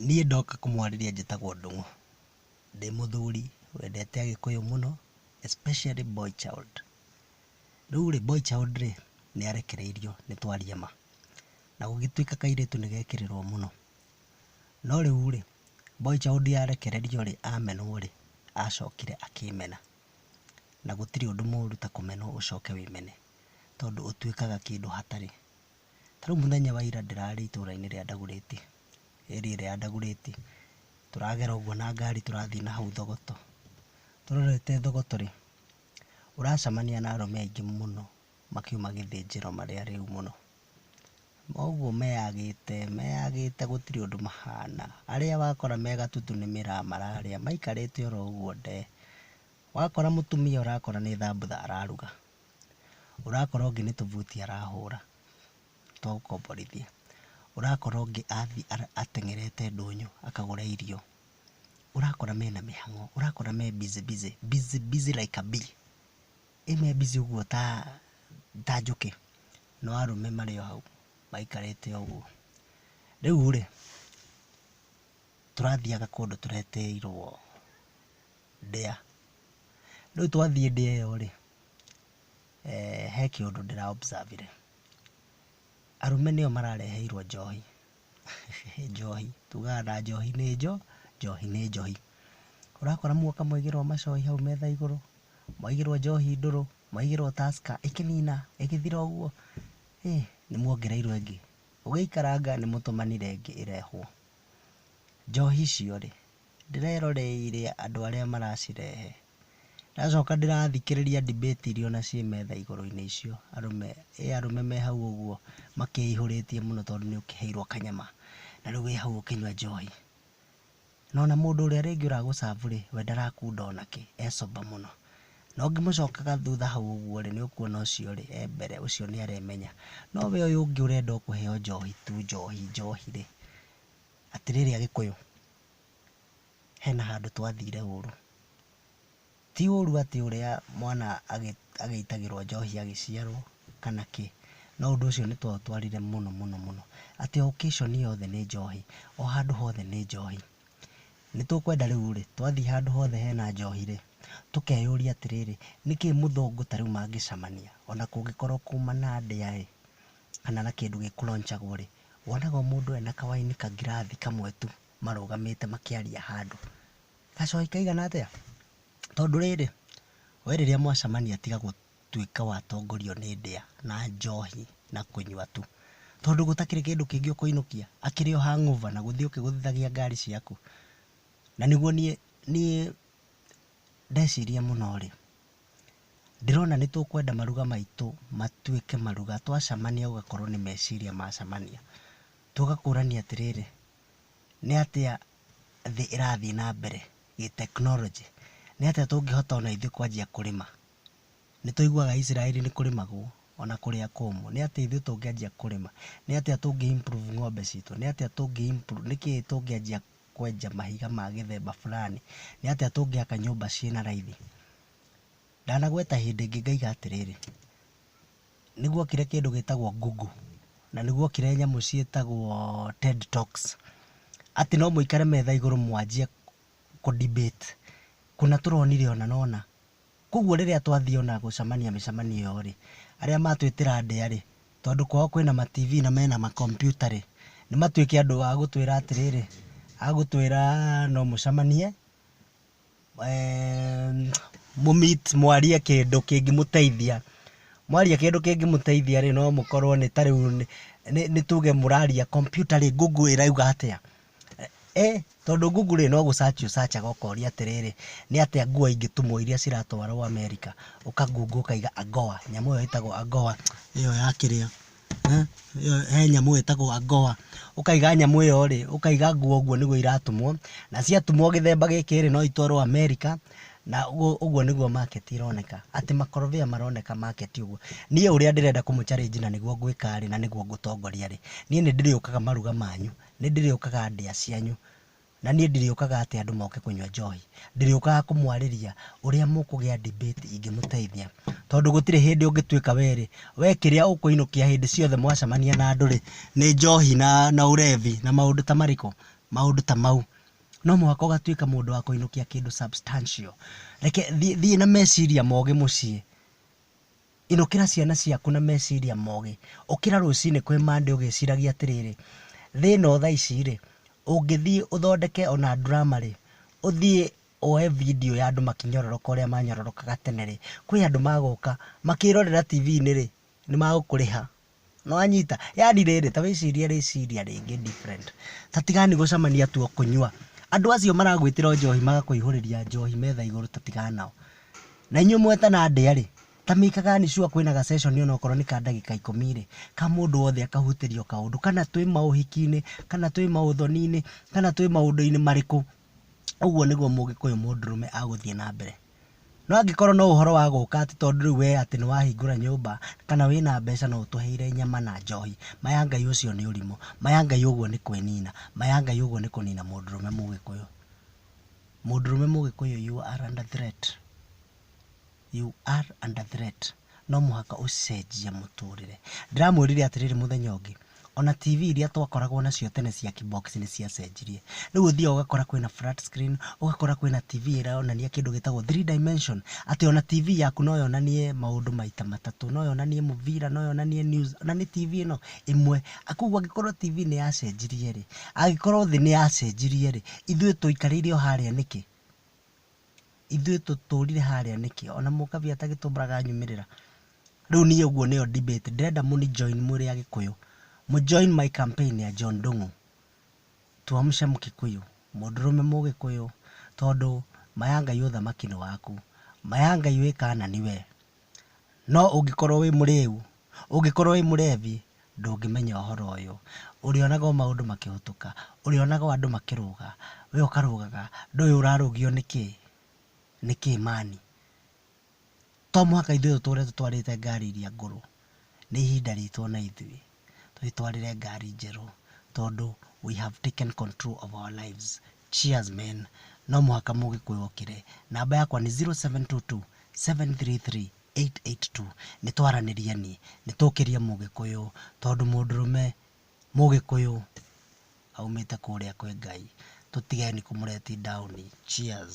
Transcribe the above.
Niĩ ndoka kũmwarĩria njĩtagwo Ndũng'ũ. Ndĩ mũthuri wendete agĩkũyũ mũno especially boy child. Rĩu rĩ, boy child rĩ, nĩ arekereirio nĩ twaria ma. Na gũgĩtuĩka kairĩtu nĩ gekĩrĩrwo mũno. No rĩu rĩ, boy child arekererio rĩ, amenwo rĩ, acokire akĩmena. Na gũtirĩ ũndũ mũru ta kũmenwo ũcoke wĩmene. Tondũ ũtuĩkaga kĩndũ hatarĩ. Ta rĩu mũthenya wa ira ndĩrarĩ itũra-inĩ rĩa Ndagurĩti, area ĩrĩa ya Ndagurĩti, tũragera ũguo na ngari tũrathiĩ na hau Thogoto. Tũrorete Thogoto rĩ, ũracemania na arũme aingĩ mũno makiuma gĩthĩnjĩro marĩ arĩu mũno. O ũguo meyagĩte meyagĩte gũtirĩ ũndũ mahana. Arĩa wakora me gatutu nĩ mĩraa mararĩa maikarĩte oro ũguo ndee. Wakora mũtumia ũrakora nĩ thambutha araruga. Ũrakora ũngĩ nĩ tũbuti arahũra twa gũkomborithia. Ũrakora ũngĩ athiĩ ateng'erete ndũnyũ akagũre irio. Ũrakora mena mĩhang'o, ũrakora me busy busy, busy busy like a bee. Ĩ me busy ũguo ta ta njũkĩ, no arũme marĩ o hau maikarĩte o ũguo. Rĩu-rĩ, tũrathiaga kũndũ tũretĩirwo ndĩa. Rĩu twathiĩ ndĩa ĩyo rĩ, eh, he kĩũndũ ndĩra observe rĩ, arũme nĩo marareheirwo njohi, njohi, tugaga na njohi nĩ njo, njohi nĩ njohi. Ũrakora mũndũ akamũigĩra o macohi hau metha igũrũ, mwaigĩrwo njohi ndũrũ, mwaigĩrwo Tusker, ĩkĩnina, ĩgĩthira ũguo, ĩ, nĩ muongereirwo ĩngĩ. Ũgĩikaranga nĩ mũtũmanire ĩngĩ ĩrehwo. Njohi icio rĩ, Ndĩreroreire andũ arĩa maracirehe. Ndacoka ndĩrathikĩrĩria debate iria ona ciĩ metha igũrũ-inĩ icio, arũme, ĩ arũme me hau ũguo makĩihũrĩtie mũno tondũ nĩ ũkĩheirwo kanyama, na rĩu wĩ hau ũkĩnyua njohi. Na ona mũndũ ũrĩa rĩngĩ ũra gũ serve rĩ, we ndarakunda ona kĩ, e sober mũno. Na ũngĩmũcokaga thutha hau ũguo rĩ, nĩ ũkuona ũcio rĩ, e mbere, ũcio nĩ aremenya. No we ũyũ ũngĩ ũrenda o kũheo njohi tu, njohi, njohi rĩ, atĩrĩrĩ Agĩkũyũ, hena handũ twathire ũru. Ti ũru atĩ ũrĩa mwana agĩitagĩrwo njohi agĩciarwo kana kĩ, no ũndũ ũcio nĩ twaũtwarire mũno mũno mũno, atĩ o occasion yothe nĩ njohi, o handũ hothe nĩ njohi. Nĩ tũkwenda rĩu rĩ, twathiĩ handũ hothe hena njohi rĩ, tũkeyũria atĩrĩrĩ, nĩkĩ mũthũngũ ta rĩu mangĩcemania ona kũngĩkorwo kuma na ndĩa ĩ, kana na kĩndũ gĩkũronjagwo rĩ, Wonaga o mũndũ ena kawaini kangirathi kamwe tu marũgamĩte makĩaria handũ. Gacohi kaigana atĩa? Tondũ rĩrĩ, we rĩrĩa mwacemania tiga gũtuĩka wa tongorio nĩ ndĩa na njohi na kũnyua tu. Tondũ gũtakĩrĩ kĩndũ kĩngĩ ũkũinũkia, akĩrĩ o hangover na gũthiĩ ũkĩgũthithagia ngari ciaku. Na nĩguo niĩ niĩ ndeciria mũno rĩ. Ndĩrona nĩ tũkwenda maruga maitũ matuĩke maruga, twacemania ũgakorwo nĩ meciria macemania. Tũgakũrania atĩrĩrĩ, nĩ atĩa thĩ ĩrathiĩ na mbere gĩtekinoronjĩ? Nĩ atĩa tũngĩhota ona ithuĩ kwanjia kũrĩma? Nĩ tũiguaga Isiraeli nĩ kũrĩmagwo ona kũrĩa kũmũ. Nĩ atĩa ithuĩ tũngĩanjia kũrĩma? Nĩ atĩa tũngĩ improve ng'ombe citũ? Nĩ atĩa tũngĩ improve, nĩ kĩĩ tũngĩanjia kwenja mahiga ma gĩthemba fulani, nĩ atĩa tũngĩaka nyũmba ciĩ na raithi? Ndanagweta hĩndĩ ĩngĩ ngaiga atĩrĩrĩ, nĩ guokire kĩndũ gĩtagwo Google, na nĩ guokire nyamũ ciĩtagwo Ted Talks, atĩ no mũikare metha igũrũ mwanjie kũ debate, kũna tũronire ũna na ũna. Kwoguo rĩrĩa twathiĩ o na gũcamania mĩcamanio ĩyo-rĩ, arĩa matwĩtĩra ndĩa-rĩ, tondũ kwao kwĩna ma TV na mena ma kompiuta-rĩ, nĩ matuĩke andũ a gũtwĩra atĩrĩrĩ, a gũtwĩra no mũcamanie, mũ meet mwarie kĩndũ kĩngĩmũteithia. Mwaria kĩndũ kĩngĩmũteithia-rĩ, no mũkorwo nĩ ta rĩu nĩ tuge mũraria kompiuta-rĩ, Google ĩrauga atĩa? Ĩĩ, tondũ Google rĩ, no gũ search ũ search aga ũkoria atĩrĩrĩ, nĩ atĩa ngũa ingĩtumwo iria ciratwarwo America, ũka Google ũkaiga AGOA, nyamũ ĩyo ĩtagwo AGOA, ĩyo ya kĩrĩa, he nyamũ ĩtagwo AGOA, ũkaiga nyamũ ĩyo rĩ, ũkaiga ngũa ũguo nĩguo iratumwo, na ciatumwo gĩthemba gĩkĩ rĩ, no itwarwo America, na ũguo nĩguo market ĩroneka, atĩ makorobia maroneka market ũguo. Niĩ ũrĩa ndĩrenda kũmũ challenge na nĩguo ngwĩka rĩ, na nĩguo ngũtongoria rĩ, niĩ nĩ ndĩrĩũkaga maruga manyu, Nĩndĩrĩũkaga ndĩa cianyu, na niĩ ndirĩũkaga atĩ andũ moke kũnyua njohi. Ndĩrĩũkaga kũmwarĩria ũrĩa mũkũgĩa debate ingĩmũteithia. Tondũ gũtirĩ hĩndĩ ũngĩtuĩka we-rĩ, we kĩrĩa ũkũinũkia hĩndĩ ciothe mwacemania na andũ-rĩ, nĩ njohi na na ũrevi na maũndũ ta marĩkũ? Maũndũ ta mau. No mũhaka ũgatuĩka mũndũ wa kũinũkia kĩndũ substantial. Reke thiĩ thiĩ na meciria mogĩ mũciĩ. Inũkĩra ciana ciaku na meciria mogĩ. Ũkĩra rũcinĩ kwĩ Monday ũgĩciragia atĩrĩrĩ, Thĩ ĩno thaa ici-rĩ, ũngĩthiĩ ũthondeke o na drama-rĩ, ũthiĩ woe video ya andũ makĩnyororoka ũrĩa manyororokaga tene-rĩ, kwĩ andũ magũka makĩrorera TV-inĩ-rĩ, nĩ magũkũrĩha. Nĩwanyita? Yaani rĩrĩ, ta wĩcirie rĩciria rĩngĩ different. Ta tigani gũcamania tu o kũnyua. Andũ acio maragwĩtĩra o njohi magakũihũrĩria njohi metha igũrũ ta tigana nao. Na inyuĩ mwetana ndĩa-rĩ, ta make-agani sure kwĩna ga session o na okorwo nĩ ka ndagĩka ikũmi-rĩ, ka mũndũ wothe akahutĩrio kaũndũ. Kana twĩ maũhiki-inĩ, kana twĩ maũthoni-inĩ, kana twĩ maũndũ-inĩ marĩkũ. ũguo nĩguo mũgĩkũyũ mũndũrũme agũthiĩ na mbere. No angĩkorwo no ũhoro wa gũka atĩ tondũ rĩu we atĩ nĩ wahingũra nyũmba, kana wĩna mbeca no ũtũheire nyama na njohi, ma ya Ngai ũcio nĩ ũrimũ. Ma ya Ngai ũguo nĩ kwĩnina. Ma ya Ngai ũguo nĩ kũnina mũndũrũme mũgĩkũyũ. Mũndũrũme mũgĩkũyũ you are under threat. You are under threat. No mũhaka ũcenjie mũtũrĩre. Ndĩramwĩrire atĩrĩrĩ mũthenya ũngĩ, ona TV iria twakoragwo nacio tene cia kibox nĩ ciacenjirie. Rĩu ũthiaga ũgakora kwĩna flat screen, ũgakora kwĩna TV ĩronania kĩndũ gĩtagwo three dimension, atĩ ona TV yaku no yonanie maũndũ maita matatũ. No yonanie mũbira, no yonanie news, na nĩ TV ĩno ĩmwe. Kwoguo angĩkorwo TV nĩ yacenjirie rĩ, angĩkorwo thĩ nĩ yacenjirie rĩ, ithuĩ tũikarĩire o harĩa nĩkĩ? ithuĩ tũtũrire harĩa nĩkĩ ona mũkabi atagĩtũmbaga anyumĩrĩra rĩu niĩ ũguo nĩyo debate ndĩrenda mũni join mũrĩ agĩkũyũ mũ join my campaign ya John Ndung'u tuamshe mkikuyu mũndũrũme mũgĩkũyũ tondũ ma ya Ngai ũthamaki nĩ waku ma ya Ngai wĩ Kanani we. No ũngĩkorwo wĩ mũrĩu, ũngĩkorwo wĩ mũrebi, ndũngĩmenya ũhoro ũyũ. Ũrĩonaga o maũndũ makĩhũtũka, ũrĩonaga o andũ makĩrũga, we ũkarũgaga, ndũĩ ũrarũgio nĩ kĩĩ, nĩ kĩĩ man. To mũhaka ithuĩ tũtũre tũtwarĩte ngari iria ngũrũ, nĩ ihinda ritũ o na ithuĩ twĩtwarĩre ngari njerũ tondũ we have taken control of our lives. Cheers men no mũhaka mũgĩkũyũ okĩre, namba yakwa nĩ 0722733882 nĩ twaranĩrie niĩ nĩ tũkĩrie mũgĩkũyũ tondũ mũndũrũme mũgĩkũyũ aumĩte kũrĩa kwĩ Ngai tũtigeni kũ let down. Cheers.